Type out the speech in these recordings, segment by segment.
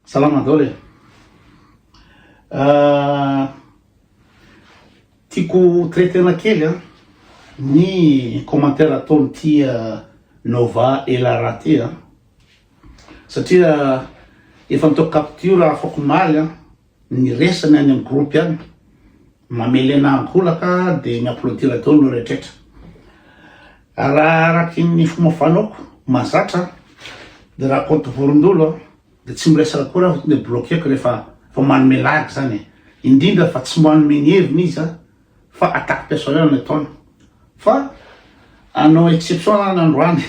Salama daholo e! Tiako ho traiter-na kely an ny commentaire ataon'ity Nova Elara ity an, satria efa nataoko capture afakomaly an ny resany any amin'ny groupe any, Mamelena an-kolaka dia mi-applaudir daholo ny rehetraretra. Raha araky ny fomba fanaoko mahazatra dia raha compte vorondolo dia tsy miresaka akory aho fa tonga dia bloquer-ko rehefa efa manome lagy izany e. Indrindra fa tsy manome ny heviny izy fa attaque personnelle no ataony. Fa hanao exception an androany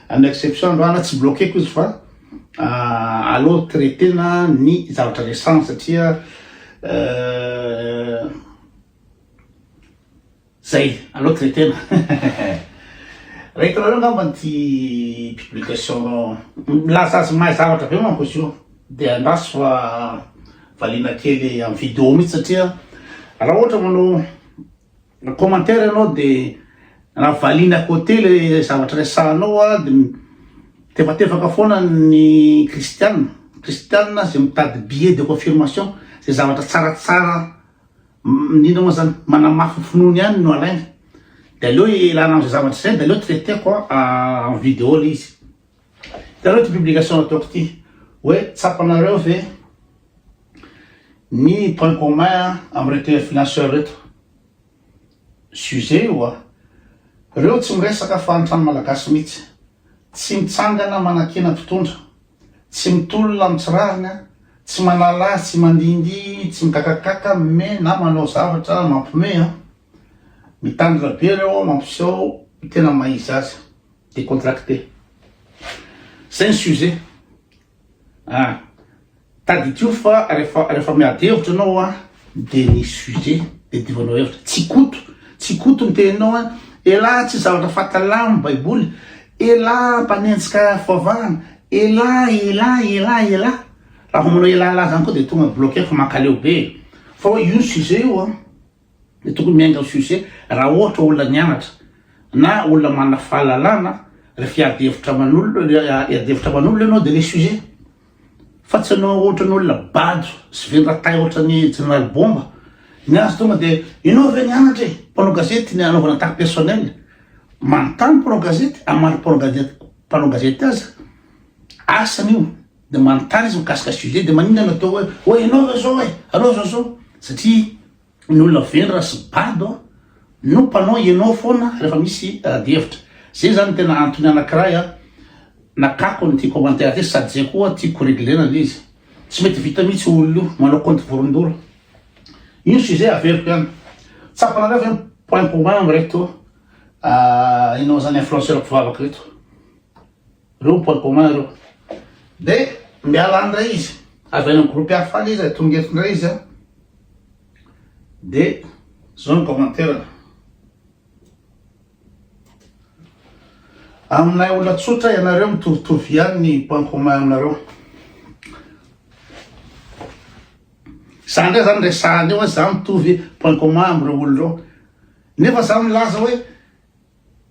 hanao exception androany tsy bloqueko izy fa aleo traitena ny zavatra resahana satria zay aleo traitena rahitinareo angamba ity publication milaza azy mahay zavatra be manko izy io de andraso fa valiana kely am video mitsy satria raha ohatra manao Raha commentaire ianao de raha valiany à côté le zavatra resahanao a de tefatefaka foana ny kristiana, kristiana ze mitady billet de confirmation ze zavatra tsaratsara indrindra moa zany manamafy finoany ihany no alainy de aleo ialana amze zavatra zay de aleo traiteko en video le izy. Hitanareo ity publication nataoko ity hoe tsapanareo ve ny point commun amin'ireto influenceurs ireto? Sujet io a! Ireo tsy miresaka fahantrana malagasy mihitsy, tsy mitsangana manakiana mpitondra, tsy mitolona amin'ny tsy rariny, tsy manala azy, tsy mandihindihy, tsy migagagaka mme na manao zavatra mampime a! Mitandrina be ireo mampiseho tena maha izy azy. Decontracter. Zay ny sujet ah. Tadidio fa refa refa miady hevitra anao ah de ny sujet de diovanao hevitra. Tsy koto tsy koto ny teninao ah. Elah tsy zavatra fatalà ny baiboly. Elah mpanenjika foavahana. Elah elah elah elah. Raha vao manao elah elah zany koa de tonga bloquer fa mankaleo be e. Fa hoe io ny sujet io ah. Dia tokony miainga ny sujet raha ohatra olona nianatra na olona manana fahalalana rehefa hiady hevitra aman'olona hiady hevitra aman'olona ianao dia ilay sujet fa tsy anao ohatra ny olona bado sy vendratay ohatra ny general bomba ny azy tonga dia ianao ve nianatra e mpanao gazety ny anaovana attaque personnelle manontany mpanao gazety amary mpanao gazety mpanao gazety aza asany io dia manontany izy mikasika sujet dia maninona no atao hoe oe ianao ve zao e aleo zao zao satria ny olona vendrana sy bado no mpanao ianao foana rehefa misy adihevitra zay zany tena antony anakiray a nakako ny ity commentaire ity sady zay koa tiako reglena le izy tsy mety vita mihitsy olona io manao compte vorondolo io sujet averiko ihany tsapanareo ve point commun amreto ah, ianao zany influenceur mpivavaka reto Ireo no point commun ireo. Dia miala any indray izy. Avy any amin'ny groupe hafa any izy, tonga eto indray izy. Dia izao ny commentaire-ny. Aminay olona tsotra ianareo mitovitovy ihany ny point commun aminareo. Izany indray izany resahana eo hoe za mitovy point commun amin'ireo olona ireo. Nefa za milaza hoe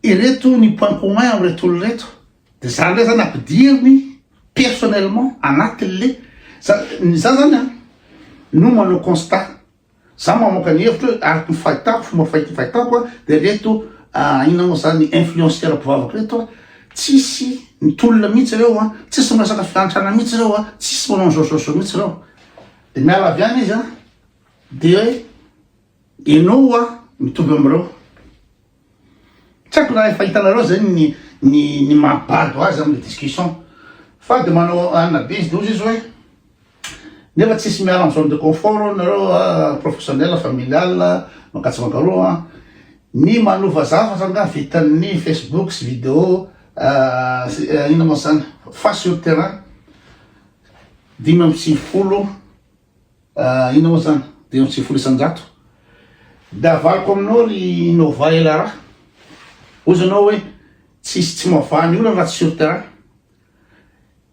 Ireto ny point commun am reto olona ireto de zany ndray zany ampidiriny personnellement anaty le za ny za zany an no manao constat za mamoka ny hevitro hoe araka ny fahitako fomba fahit fahitako an de reto ina mo zany influenceur mpivavaka reto an tsisy mitolona mihitsy ireo an tsisy miresaka fiantrana mihitsy ireo an tsisy manao zao zao zao mihitsy ireo de miala avy any izy an de hoe enao an mitovy amreo Tsy haiko raha efa hitanareo zay ny ny ny maha bado azy amle discussion fa de manao anina be izy de ozy izy hoe nefa tsisy miala am zone de confort nareo a professionnel familial mankatsa mankaroa a ny manova zavatra nga vitan'ny facebook sy video inona mo zany fa sur terrain dimy amby sivifolo Ah inona moa zany? Dimy amby sivifolo isan-jato? De avaloko aminao ry Nova et Lara, hoy zanao hoe tsisy tsy mavaha ny olana raha tsy sur terrain.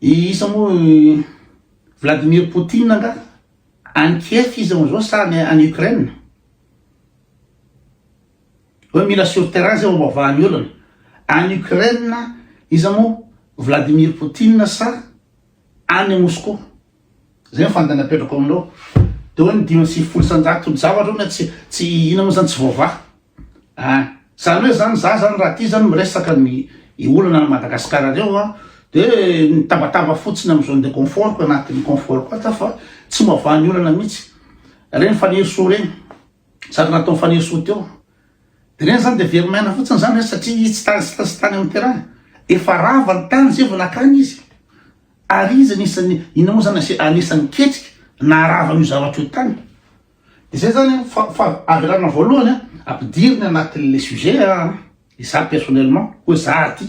I isa moa i Vladimir Poutine angaha? Any Kiev izy amzao sa any any Ukraine? Hoe mila sur terrain zay vao mavaha ny olana. Any Ukraine iza moa Vladimir Poutine sa any Moscou? Zay ny fandany apetrako aminao de oe ny dimy amby sivifolo isanjato ny zavatra oe tsy tsy ina mo zany tsy voavaha ah zany oe zany za zany raha ty zany miresaka ny i olana any Madagascar reo an de mitabataba fotsiny am zone de confort ko anatiny confort ko ato fa tsy mivavaha ny olana mitsy reny Fanirisoa reny zaka nataony Fanirisoa teo de reny zany de very maina fotsiny zany satria izy tsy tany sitany am terrain efa rava ny tany zay vo nakany izy. Ary izy anisan'ny inona moa zany ase anisan'ny ketrika naharava an'io zavatra io tany de zay zany fa fa avelana voalohany a ampidiriny anatin'le sujet a izaho personnellement hoe za aty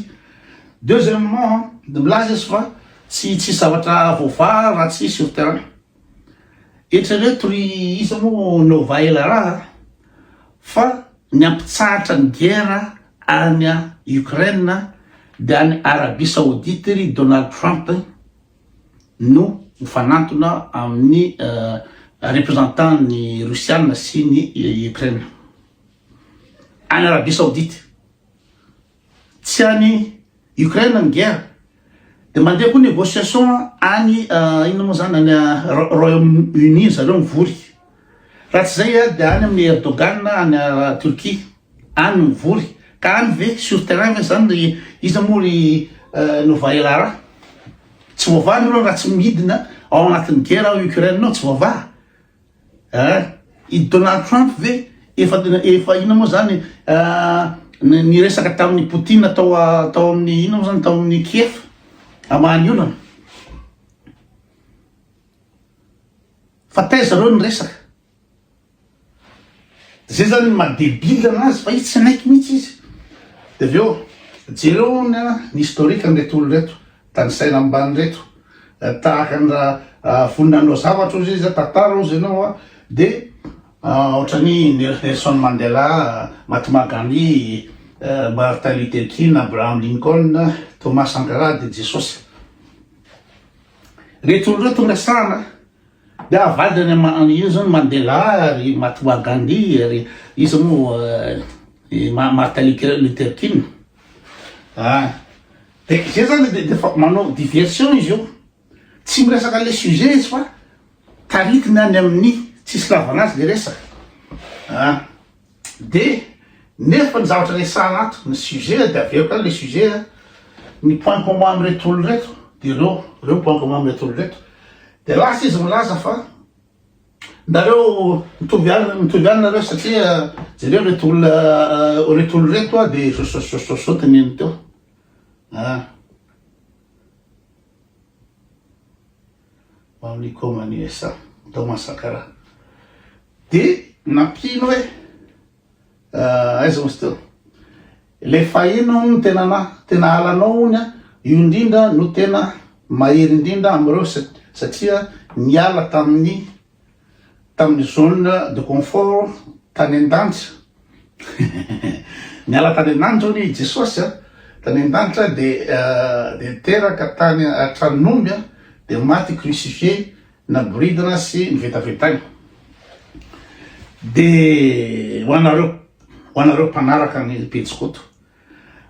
deuxièmement a de milaza izy fa tsy tsisy zavatra voavaha raha tsy sur terrain Eritrereto ry iza moa no vaela raha fa ny ampitsahatra ny guerre any Ukraine dia any Arabie Saoudite ry Donald Trump no mifanantona amin'ny representant ny Russiana sy ny Ukraine any Arabie Saoudite. Tsy any Ukraine ny guerre de mandeha koa negociation any inona moa zany any Royaume Uni zareo mivory. Raha tsy zay dia any amin'ny Erdogan any Turquie any mivory. Ka any ve sur terrain ve zany ry iza moa ry Nova Elara? Tsy voavaha nareo raha tsy midina ao anatin'ny guerre ao Ukraine ao tsy voavaha. Eh? I Donald Trump ve efa tena efa inona moa zany eh, niresaka tamin'ny Poutine tao ah, tao amin'ny inona moa zany tao amin'ny Kiev amany olana fa taiza reo niresaka zay zany madebile anazy fa izy tsy naiky mihitsy izy de avy eo jereo ny historique an'ireto olo reto Tanisaina amban'ireto tahaka ny raha vonona hanao zavatra ozy izy, tantara ozy ianao dia ohatran'ny Nelson Mandela, Mahatma Gandhi, Martin Luther King, Abraham Lincoln, Thomas Sankara dia Jesosy. Ireto olona ireto no resahana dia avadika any amin'ny ino zany Mandela ry Mahatma Gandhi ry iza moa Martin Luther King. Dia izay izany dia efa manao diversion izy io. Tsy miresaka an'ilay sujet izy fa taritiny any amin'ny tsisy ilavana azy ilay resaka. Ah! Dia nefa ny zavatra resahana ato, ny sujet dia averiko any ilay sujet a, ny point commun amin'ireto olona ireto dia ireo, ireo ny point commun amin'ireto olona ireto. Dia lasa izy milaza fa. Nareo mitovy any mitovy any nareo satria jereo reto olona reto olona reto a de sosososososo teneniny teo a amin'ny koma ny esa tao Mansankara de nampino hoe Aiza hozy teo? Ilay fahiny hono no tena na tena halanao hono a, io indrindra no tena mahery indrindra amin'ireo satria niala tamin'ny tamin'ny zone de confort tany an-danitra. Niala tany an-danitra hono i Jesosy a, tany an-danitra dia dia teraka tany an-tranon'omby a, dia maty crucifié Naboridina sy novetavetaina. Dia ho anareo, ho anareo mpanaraka an'i Pejy Koto,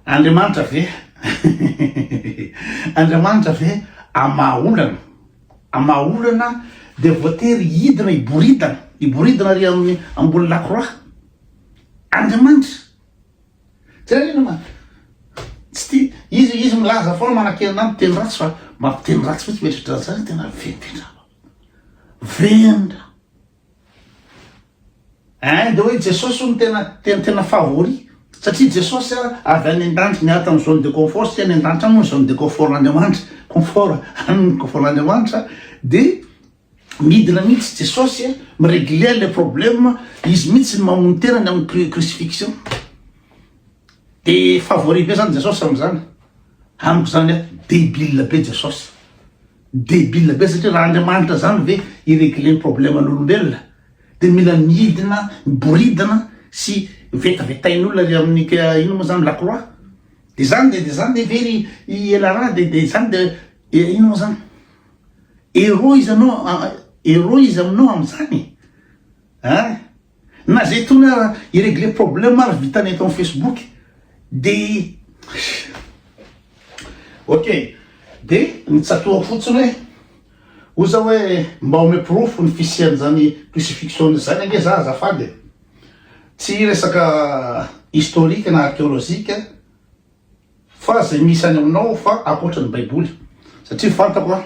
Andriamanitra ve, Andriamanitra ve amin'ny maha olana, amin'ny maha olana dia voatery hidina hiboridana, hiboridana ary amin'ny ambony lakroa? Andriamanitra! Jerena manko. Tsy tia. Izy, izy milaza foana manakena anao miteny ratsy fa mampiteny ratsy fotsiny mety ohatran'izany tena vendrana. Vendra. Hein, dia hoe Jesosy no tena tena tena favori. Satria Jesosy a, avy any an-danitra niala tamin'ny zone de confort, satria any an-danitra any moa ny zone de confort-n'Andriamanitra, confort, any ny confort-n'Andriamanitra dia Midina mihitsy Jesosy a, mi-regler le problème, izy mihitsy no mamono tena ny amin'ny crucifixion. De favori be zany Jesosy amin'izany. Amiko zany a, debile be Jesosy. Debile be satria raha Andriamanitra zany ve hi-regler ny problème-n'olombelona de mila midina, miboridana sy vetavetain'olona ery amin'ny inona moa zany lakroa. De zany de zany ve ry i Elara de zany de inona moa zany. Héros izy anao Héros izy aminao amin'izany e! Hein! Na zay tona hi-regler problème ary vitany eto amin'ny Facebook de Ok! De ny tsatoako fotsiny hoe oza hoe mba omeo porofo ny fisian'izany crucifixion izany ange za azafady e! Tsy resaka historique na archéologique. Fa zay misy any aminao fa ankoatra ny baiboly satria fantako an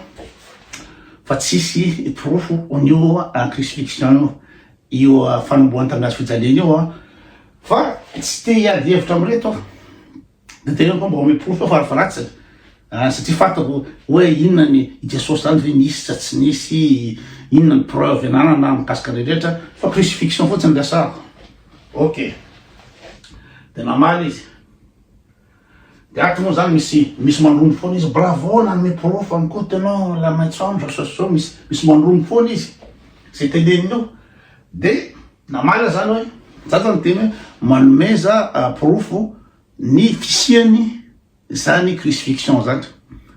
fa tsisy porofo onio an crucifixion io io fanombohan tamin'ny hazo fijaliana io an fa tsy te hiady hevitra amin'ireto aho de tena mba omeo porofo fa fa ratsy an satria fantako hoe inona ny i jesosy zany ve nisy sa tsy nisy inona ny preuve ananana mikasika an'ireny rehetra fa crucifixion fotsiny resahako ok de namaly izy De ato moa zany misy misy mandrondo foana izy bravo nanome porofo any koa tenant la maitso andro sao sao misy misy mandrondo foana izy zay teneniny io de namaly zany hoe za zany teny hoe manomeza porofo ny fisiany zany crucifixion zany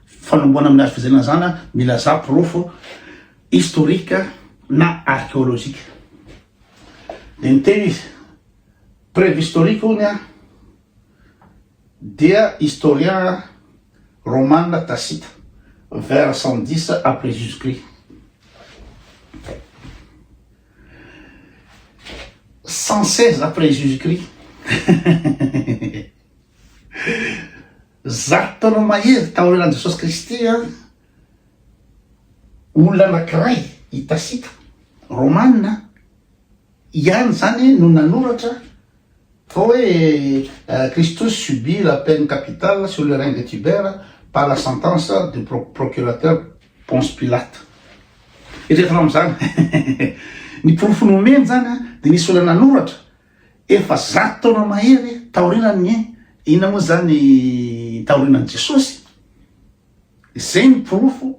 fanomboana amin'ny hazo fijaliana zany milazà porofo historique na archéologique de niteny izy Préhistorique hono an, dia historien romana Tacite, vers cent dix après Jesus Christ. Cent seize après Jesus Christ. Zato taona mahery taorianan'i Jesosy Kristy an, olona anankiray i Tacite, romana, ihany izany no nanoratra fa hoe Christos subit la peine capitale sur le rein de Tibère par la sentence du procurateur Ponce Pilate. Eritrereto raha amin'izany ny porofo nomeny izany dia nisy olona nanoratra efa zato taona mahery taorianan'ny, inona moa izany, taorianan'i Jesosy. Izay no porofo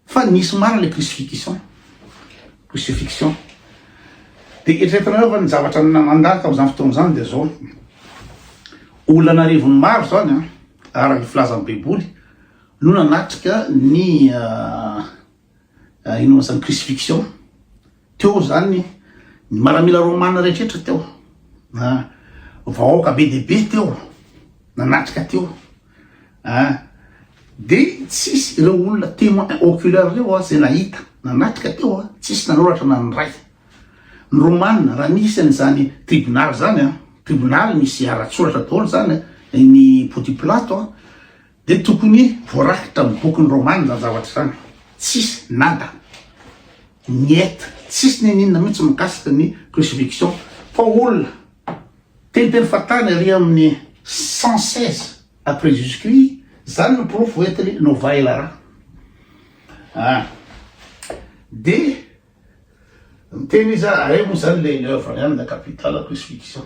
fa nisy marina ilay crucifixion. Crucifixion. Dia eritreretinareo ve ny zavatra nandalo tamin'izany fotoana izany dia izao. Olona an'arivony maro izany an, araka ny filazan'ny Baiboly, no nanatrika ny. Inona zany crucifixion? Teo zany ny maramila romana rehetra teo, na vahoaka be dia be teo nanatrika teo ah, de tsisy ireo olona témoin oculaire reo ah, zay nahita nanatrika teo ah, tsisy nanoratra na ny ray. Ny romana raha nisy an'izany tribunal zany ah, tribunal misy ara-tsoratra daholo zany, ny Pontiplato ah, Dia tokony voarakitra amin'ny bokin'ny Romana izany zavatra izany. Tsisy, nada, niet, tsisy n'inon'inona mihitsy mikasika ny crucifixion. Fa olona teniteny fahatany ery amin'ny 116 après Jesus Christ, izany no porofo entiny Nova Elara. Ah. Dia miteny izy, ahay moa izany ilay ny œuvre-ny ihany, la capitale crucifixion.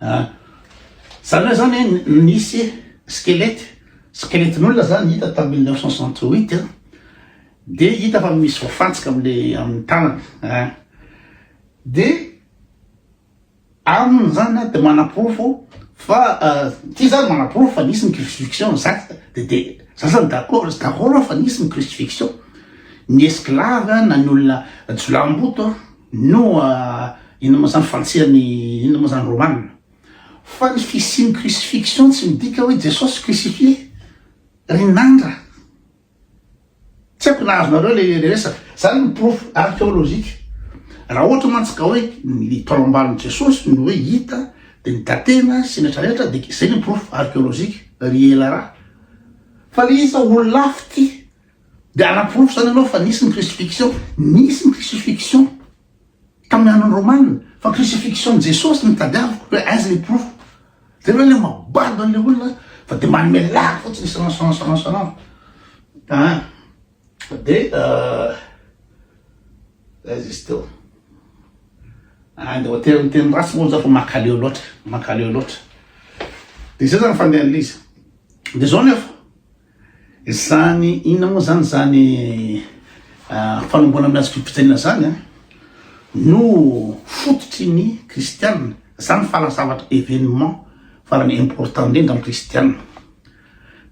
Ah. Zany hoe zany hoe nisy skelety, skeletin'olona zany hita tam mille neuf cent soixante huit a, de hita fa misy voafantsika amle amin'ny tanany a. Ah. De aminy zany a de manaporofo fa ah, ty zany manaporofo fa nisy ny crucifixion exacte de de za zany d'accord izy d'accord aho fa nisy ny crucifixion, ny esclave na ny olona jiolahimboto a. No inona moa zany fanitsian'ny inona moa zany Romana? Fa ny fisian'ny crucifixion tsy midika hoe Jesosy crucifié ry nandra. Tsy haiko na azonareo le resaka. Zany ny porofo archéologique. Raha ohatra mantsy ka hoe ny taolambalon'i Jesosy no hoe hita dia ny datena sy ny rehetra rehetra dia izay ny porofo archéologique ry ela raha. Fa le izy olona hafa ity. Dia ara-porofo izany ianao fa nisy ny crucifixion. Nisy ny crucifixion tamin'ny andron'ny Romana, fa crucifixion-n'i Jesosy no tadiaviko, hoe aiza ilay porofo. Dia ianao ilay mabado an'ilay olona fa dia manome lagy fotsiny isan'andro isan'andro isan'andro. Dia aiza izy teo? Andeha hoatera ny teny ratsy moa izaho fa mankaleo loatra, mankaleo loatra. Dia izay izany fandehan'ilay izy. Dia izao anefa. Izany inona moa izany izany fanomboana amin'ny hazo fibitsanina izany an? No fototry ny kristiana. Izany fala zavatra événement farany important indrindra amin'ny kristiana.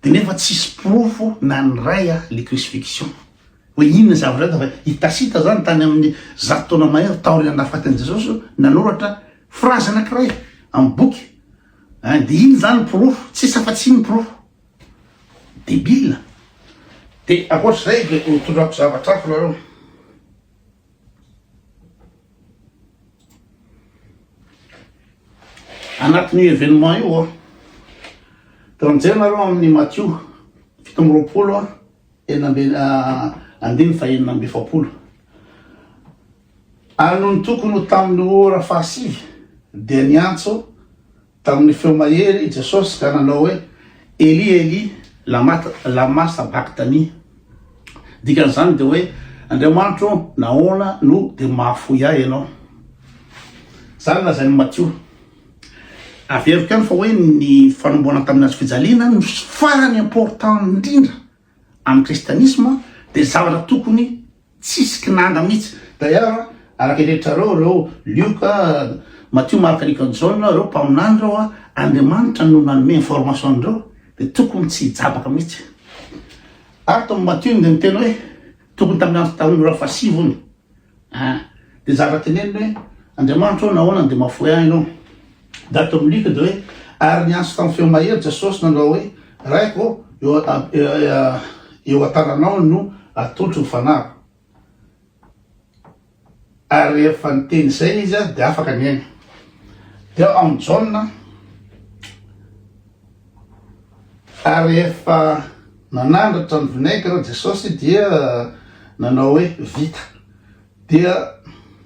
Dia nefa tsisy porofo na ny iray an le crucifixion. Hoe inona zavatra hita fa i Tacite izany tany amin'ny zato taona mahery taorian'ny nahafaty an'i Jesosy no nanoratra phrase anankiray amin'ny boky. Dia inona izany ny porofo? Tsisy afa-tsy iny ny porofo. Debile. De ankoatr'izay de ho tondrako zavatra hafa nareo. Anatin'io événement io a, teo mijery nareo amin'ny Matio fito amby roapolo a, enina ambin'ny andininy fahenina amby efapolo. Ary nony tokony ho tamin'ny ora fahasivy dia niantso Tamin'ny feo mahery i Jesosy ka nanao hoe, Eli, Eli, lama, lama sabakthani? Dikan'izany dia hoe, Andriamanitro ô, nahoana no dia mahafoy ahy Ianao? Izany lazain'i Matio. Averiko ihany fa hoe ny fanomboana tamin'ny hazofijaliana no farany important indrindra. Amin'ny kristianisma dia zavatra tokony tsisy kinanga mihitsy. D'ailleurs araka eretrareo ireo Lioka, Matio, Marka, Lioka, Jaona ireo mpaminany ireo Andriamanitra no nanome information an'ireo dia tokony tsy hijabaka mihitsy. Ary tao amin'ny Matio iny dia niteny hoe tokony tamin'ny andro tamin'ny ora fahasivy hono. Hein. Dia zara tenenina hoe, Andriamanitra ô, nahoana no dia mahafoy ahy Ianao? Daty eo amin'ny lika dia hoe, Ary niantso tamin'ny feo mahery Jesosy nanao hoe, Raiko ô, eo eo an-tananao no atolotro ny fanahiko. Ary rehefa niteny izay izy dia afaka niaina. Dia ao amin'ny Jaona. Ary rehefa nanandratra ny vinaigre Jesosy dia nanao hoe, Vita. Dia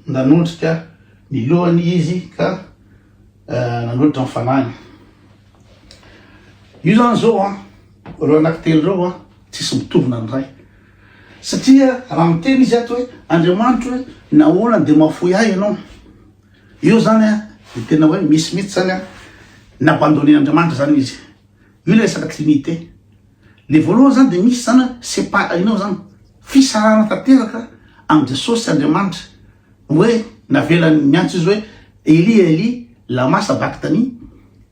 nanondrika ny lohany Izy ka nanolotra ny Fanahiny. Io izany izao an, ireo anankitelo ireo an, tsisy mitovona ny Ray. Satria raha miteny Izy ato hoe, Andriamanitro e, nahoana dia mahafoy ahy Ianao? Io zany an, dia tena hoe misy mihitsy zany an, n'abandonner Andriamanitra zany izy. Io le resaka trinité. Le voalohany zany dia misy zany an, c'est pas hainao zany, fisarahana tanteraka amin'i Jesosy sy Andriamanitra, hoe navelany miantso izy hoe Eli Eli lama sabachthani,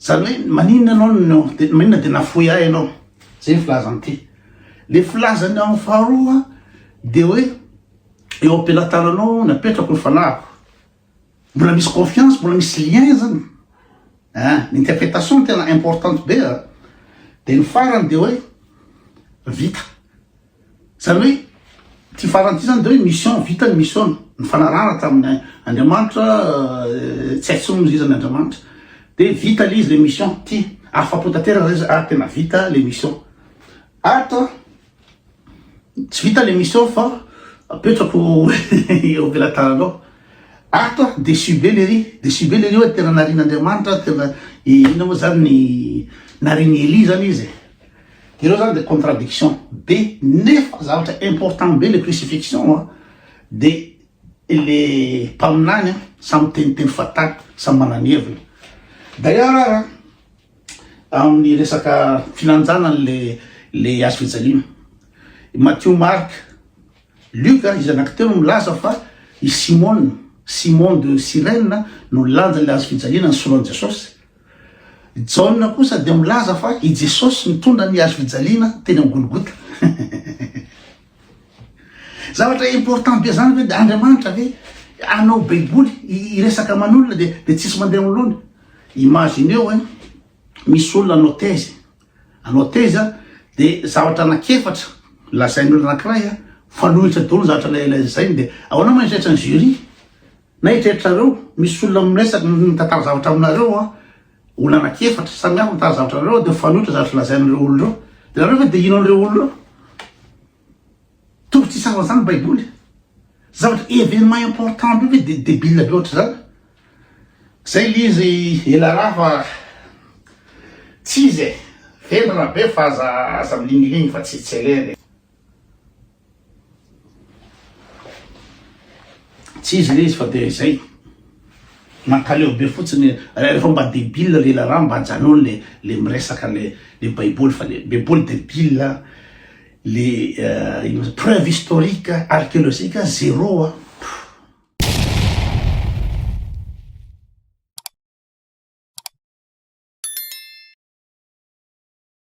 zany hoe maninona ianao no, maninona dia nafoy ahy ianao, zay ny filazany ity. Le filazany amin'ny faharoa dia hoe eo am-pelatananao napetrako ny fanahiko, Mbola misy confiance, mbola misy lien zany. Ah, ny interprétation tena importante be a. Dia ny farany dia hoe vita. Zany hoe ty farany ty zany dia hoe mission vita ny mission ny fanarahana tamin'ny Andriamanitra euh, tsy aitsony izy izany Andriamanitra. Dia vita le izy le mission ty afa-po tanteraka zay ah tena vita le mission. Ato Tsy vita le mission fa apetrako eo am-pelatananao. Ato aho déçu be lery, déçu be lery hoe tena narian'Andriamanitra, tena inona moa zany ny narian'i Elie zany izy e. Ireo zany dia contradiction be nefa zavatra important be le crucifixion an, dia le mpaminany an samy miteniteny fahatany, samy manana ny heviny. D'ailleurs ara. amin'ny resaka filanjana le le hazo fijaliana. I Matthieu Marc, Luc ary izy anankitelo milaza fa i Simona, Simon de Cyrène no nilanja le hazo fijaliana nisolo an'i Jesosy. Jaona kosa dia milaza fa i Jesosy nitondra ny hazo fijaliana teny amin'ny Golgota. Zavatra important be zany ve de Andriamanitra ve hanao baiboly hiresaka aman'olona de de tsisy mandeha anoloany? Imagineo hein, misy olona hanao thèse, hanao thèse a de zavatra anak'efatra lazain'olona anakiray a, fanohitra daholo ny zavatra lazainy de ahoana ma ny sehatra ny jury? Na eritreritrareo, misy olona miresak, mitantara zavatra aminareo an, olona anaky efatra samy hafa mitantara zavatra anareo dia mifanohitra zavatra lazain'ireo olona ireo. Dia nareo ve dia hino an'ireo olona ireo? Tokony tsy hisahona izany ny Baiboly. Zavatra événement important be ve dia débile be ohatr'izany? Zay le izy ela raha fa tsy izy e, vendrana be fa aza aza milingilingy fa tsy tsy aleha le. Tsy izy le izy fa dia izay. Mankaleo be fotsiny rehefa mba debile le lalà mba ajanony le le miresaka le le baiboly fa le baiboly debile le euh, ino moa preuve historique archéologique zéro a.